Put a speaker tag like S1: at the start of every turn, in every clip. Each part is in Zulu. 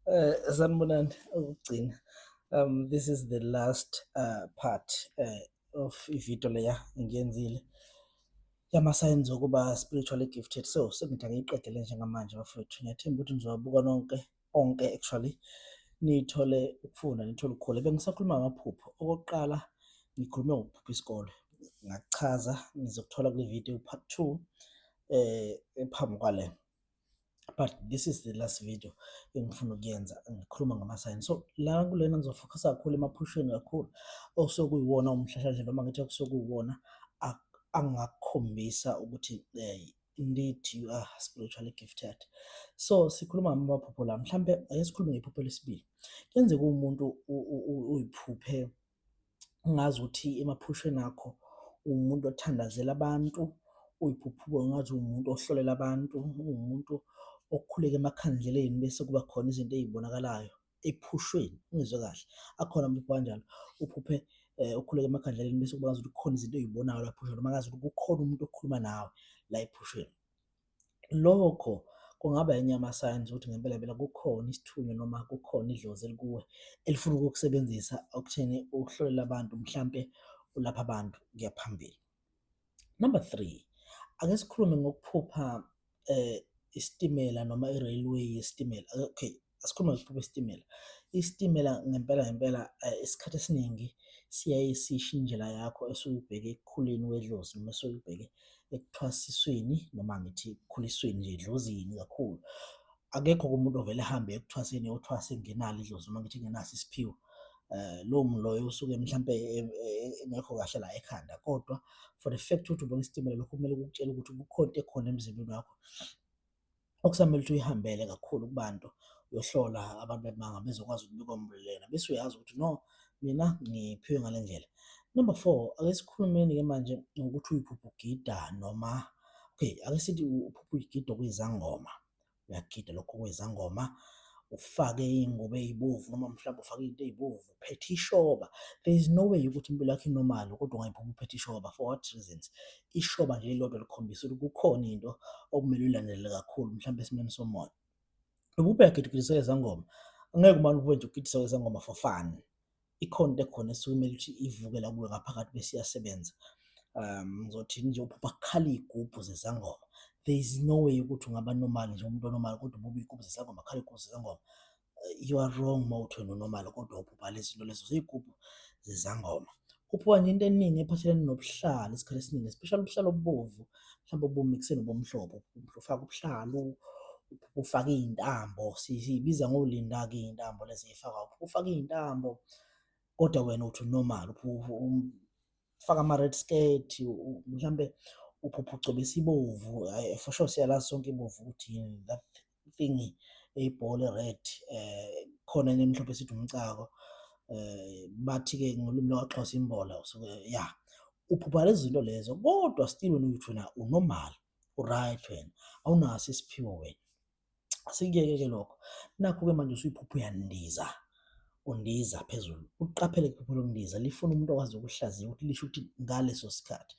S1: Eh sanibonani ukugcina. Um this is the last uh, part uh, of ivideo leya ngiyenzile yama signs okuba spiritually gifted so sengithi angiyiqedele njengamanje bafowethu ngiyathemba ukuthi nizowabuka nonke onke actually nithole ukufunda nithole ukukhula bengisakhuluma ngamaphupho okokuqala ngikhulume ngokuphupha isikole ngakuchaza ngizokuthola kule video part 2 eh ephambi kwalena but this is the last video engifuna ukuyenza ngikhuluma ngama-sign so la kulena ngizofocusa kakhulu emaphushweni kakhulu okusokuyiwona umhlahlandlela noma ngithi okusokuyiwona angakukhombisa ukuthi um indeed you are spiritually gifted so sikhuluma ngamaphupho la mhlampe ake sikhulume ngephupho lesibili kuyenzeka uwumuntu uyiphuphe ungazi ukuthi emaphushweni akho uwumuntu othandazela abantu uyiphuphuko ngathi uwumuntu ohlolela abantu uwumuntu okhuleka emakhandleleni bese kuba khona izinto ezibonakalayo ephushweni ungizwe kahle akhona umuntu kanjalo uphuphe eh ukhuleka emakhandleleni bese kuba ukuthi khona izinto ezibonayo lapho noma ngazi ukuthi kukhona umuntu okhuluma nawe la ephushweni lokho kungaba enye yama-signs ukuthi ngempela phela kukhona isithunywa noma kukhona idlozi elikuwe elifuna ukukusebenzisa okutheni ukuhlolela abantu mhlampe ulapha abantu kuya phambili. Number three, ake sikhulume ngokuphupha um isitimela noma i-railway yesitimela okay asikhulume ngesiphupho isitimela isitimela ngempela ngempela eh, isikhathi esiningi siyaye sisho indlela yakho esuke ubheke ekukhuleni wedlozi noma esuke ubheke ekuthwasisweni noma ngithi ekukhulisweni nje edlozini kakhulu akekho kumuntu ovele ahambe ekuthwaseni yothwase ngenalo idlozi noma ngithi ngenaso isiphiwo um lowo muntu loyo usuke mhlawumpe engekho kahle la ekhanda kodwa for the fact ukuthi ubona isitimela lokho kumele kukutshela ukuthi kukhona into ekhona emzimbeni wakho okusamele ukuthi uyihambele kakhulu kubantu uyohlola abantu bemanga bezokwazi ukubika umlulena bese uyazi ukuthi no mina ngiphiwe ngale ndlela number four ake sikhulumeni-ke manje ngokuthi uyiphupha ugida noma okay ake sithi uphupha uyigida okuyizangoma uyagida lokho okuyizangoma ufake iy'ngubo ey'bovu noma mhlawumbe ufake into ey'bovu uphethe ishoba there is no way ukuthi impilo yakho inormal kodwa ungayiphuma uphethe ishoba for what reasons ishoba nje lodwa likhombisa ukuthi kukhona into okumele uyilandelele kakhulu mhlawumbe esimeni somoya ububheka gidugidisa ezangoma angeke umane ube nje ugidisa ezangoma for fun ikhona into ekhona esuke kumele ukuthi ivuke la kuwe ngaphakathi bese iyasebenza um ngizothi nje uphupha kukhala iy'gubhu zezangoma there is no way ukuthi ungaba normal nje umuntu onormal kodwa ububa iy'gubhu zezangoma khala iy'gubhu zezangoma you are wrong mawuthi wena unormal kodwa ubhubha lezinto lezo ziyigubhu zezangoma uphiwa nje into eningi ephathelene nobuhlalo isikhathi esiningi especially ubuhlalo obubovu mhlawumbe obumikise nobomhlophe ufaka ubuhlalo ufaka iy'ntambo siyibiza ngolinda-ke iy'ntambo lezi ey'fakwa ufaka iy'ntambo kodwa wena uthi normal ufaka ama-red skirt mhlawumbe uphupha ugcobe isibovu for sure siyalazi sonke ibovu ukuthi yini that fingi eyibhola red eh khona enye emhlophe sithi umcako eh bathi ke ngolimi lwaXhosa imbola usuke ya uphupha lezi zinto lezo kodwa still wena uthi wena unormal uright wena awunaso isiphiwo wena asikuyeke ke lokho nakho ke manje usuyiphupha uyandiza undiza phezulu uqaphele iphupho lokundiza lifuna umuntu okwazi ukuhlaziya ukuthi lisho ukuthi ngaleso sikhathi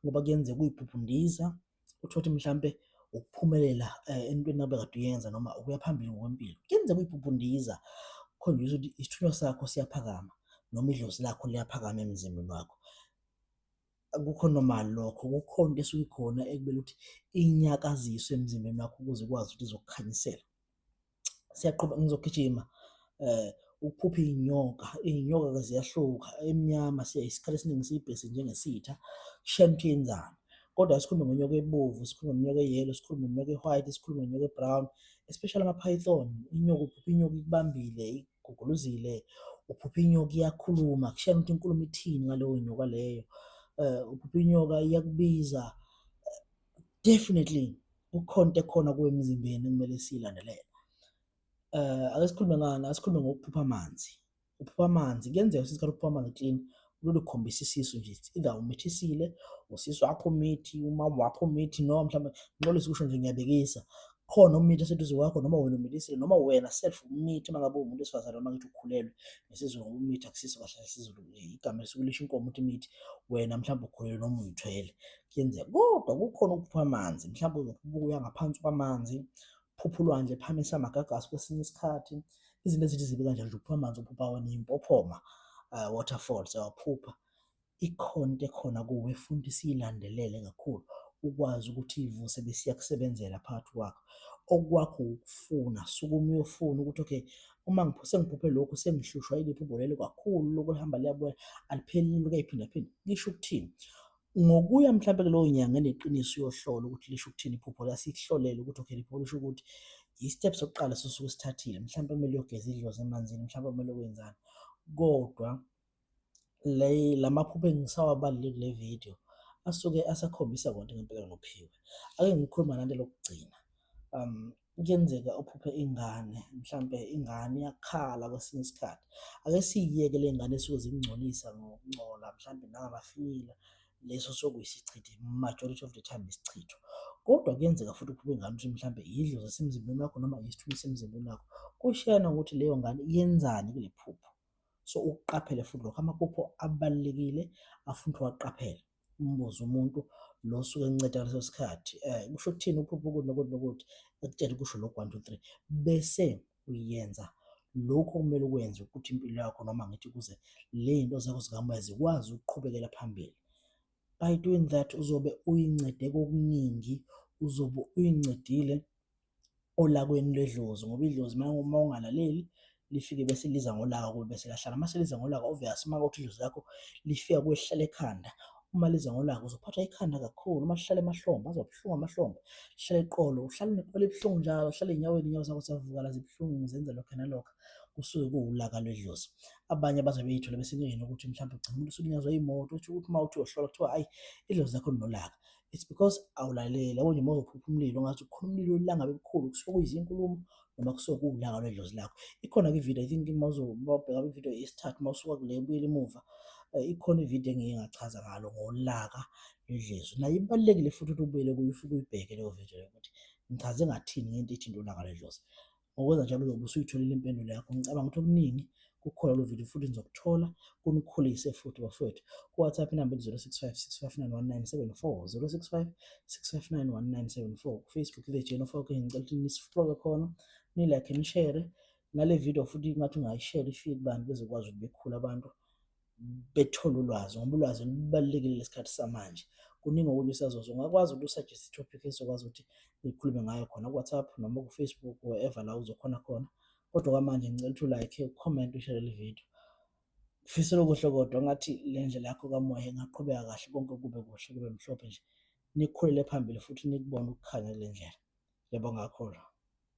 S1: ngoba kuyenzeka uyiphupha undiza uthole ukuthi mhlampe ukuphumelela eh, entweni nabe kade uyenza noma ukuya phambili ngokwempilo kuyenzeka uyibhubhundiza khonjisa ukuthi isithunywa sakho siyaphakama noma idlozi lakho liyaphakama emzimbeni wakho akukho normal lokho kukhona into esuke ikhona ekubele ukuthi inyakaziswe emzimbeni wakho ukuze ukwazi ukuthi izokukhanyisela siyaqhuba ngizogijima eh ukuphupha iy'nyoka iy'nyoka-ke ziyahluka emnyama siyaye isikhathi esiningi siyibhese njengesitha kushaye ukuthi yenzani kodwa sikhulume ngonyoka ebovu sikhulume ngonyoka eyelo sikhulume ngonyoka e-white sikhulume ngonyoka e-brown especially ama-python inyoka uphupha inyoka ikubambile iguguluzile uphupha inyoka iyakhuluma kushaye ukuthi inkulumo ithini ngaleyo nyoka leyo um uphupha inyoka iyakubiza definitely kukhona into ekhona kuwe emzimbeni kumele siyilandelele eh ake sikhulume ngani asikhulume ngokuphupha amanzi uphupha amanzi kuyenzeka ukuthi isikhathi uphupha amanzi clean lolu khombisa isisu nje either umithisile usisu wakho umithi umama wakho umithi noma mhlawumbe nxolisa ukusho nje ngiyabekisa khona umithi oseduze kwakho noma wena umithisile noma wena self umithi uma ngabe umuntu wesifazane noma ngithi ukhulelwe ngesizulu umithi akusiso kahle isizulu igama esukulisho inkomo ukuthi imithi wena mhlawumbe ukhulelwe noma uyithwele kuyenzeka kodwa kukhona ukuphupha amanzi mhlawumbe uzokubuya ngaphansi kwamanzi phupha ulwandle phamisa amagagasi kwesinye isikhathi izinto ezithi zibe kanje nje uphupha amanzi uphupha wena impophoma uh, eh, waterfalls awaphupha ikhona into ekhona kuwe futhi siyilandelele kakhulu ukwazi ukuthi ivuse besiya kusebenzela phakathi kwakho okwakho ukufuna sukuma uyofuna ukuthi okay uma ngiphuse ngiphuphe lokhu sengihlushwa iliphi ubholelo kakhulu lokuhamba liyabuya aliphelile kuyiphinda phinda lisho ukuthini ngokuya mhlawumbe kulowo nyanga eneqiniso uyohlola ukuthi lisho ukuthini iphupho la sikuhlolele ukuthi okay liphupho lisho ukuthi i-step sokuqala sosuke sithathile mhlawumbe kumele uyogeza idlozi emanzini mhlawumbe kumele wenzani kodwa le lamaphupho engisawabalile kule video asuke asakhombisa konke ngempela nophiwe ake ngikhuluma nante lokugcina um kuyenzeka uphuphe ingane mhlampe ingane iyakhala kwesinye isikhathi ake siyiyeke le ngane esuke zingcolisa ngokungcola mhlampe nangamafinyila leso sokuyisichitho majority of the time isichitho kodwa kuyenzeka futhi uphuphe ingane ukuthi mhlampe yidlo zasemzimbeni wakho noma yisithubi semzimbeni wakho kushiyana ukuthi leyo ngane yenzani kule phupho so ukuqaphele futhi lokho amaphupho abalulekile afuna ukuthi waqaphele umbuze umuntu lo osuke enceda ngaleso sikhathi eh, kusho ukuthini uphupha ukuthi nokuthi nokuthi ekutshele kusho lokhu one two three bese uyenza lokhu okumele ukwenze ukuthi impilo yakho noma ngithi kuze le nto zakho zikamoya zikwazi ukuqhubekela phambili by doing that uzobe uyincede kokuningi uzobe uyincedile olakweni lwedlozi ngoba idlozi uma ungalaleli lifike bese liza ngolaka kuwe bese lahlala uma seliza ngolaka obvious uma ukuthi idlozi lakho lifika kwehlala ekhanda uma liza ngolaka uzophathwa ikhanda kakhulu uma lihlala emahlombe azobuhlungu amahlombe lihlale eqolo uhlale neqolo ebuhlungu njalo uhlale enyaweni inyawo zakho ziyavuka la zibuhlungu zenza lokho nalokho kusuke kuwulaka lwedlozi abanye abaze beyithola bese kuyena ukuthi mhlawumbe ugcina umuntu usulinyazwa imoto uthi ukuthi uma uthi uyohlola kuthiwa ayi idlozi lakho linolaka it's because awulaleli yabo nje uma uzophupha umlilo ngathi ukhona umlilo olanga bebukhulu kusuke kuyizinkulumo noma kusuke kuwulanga lwedlozi lakho ikhona ke ivideo i think uma uzobheka ivideo yesithathu uma usuka kule buyela emuva eh, ikhona ivideo engike ngachaza ngalo ngolaka lwedlozi nayo ibalulekile futhi ukuthi ubuyele kuyo ufike uyibheke leyo video leyo ukuthi ngichaze ngathini ngento ethi ulaka lwedlozi Ngokwenza njalo uzobe usuyitholile impendulo yakho. Ngicabanga ukuthi okuningi kukhona lo video futhi nizokuthola kunikhulise futhi bafowethu. Ku-WhatsApp inamba ethi 0656591974 0656591974 ku-Facebook The Jane of Hawking ngicela ukuthi nisiflowe khona nilike nishere nale video futhi ngathi ungayishare ifike kubantu bezokwazi ukuthi bekhule abantu bethole ulwazi ngoba ulwazi lubalulekile lesikhathi samanje kuningi okunye usazozwa ungakwazi ukuthi usuggest topic ezokwazi ukuthi ngikhulume ngayo khona ku-whatsapp noma ku-facebook wherever la uzokhona khona kodwa kwamanje ngicela ukuthi ulike ucomment ushare le video ngifisela okuhle kodwa ngathi le ndlela yakho kamoya ingaqhubeka kahle konke kube kuhle kube mhlophe nje nikhulele phambili futhi nikubone ukukhanya kule ndlela ngiyabonga kakhulu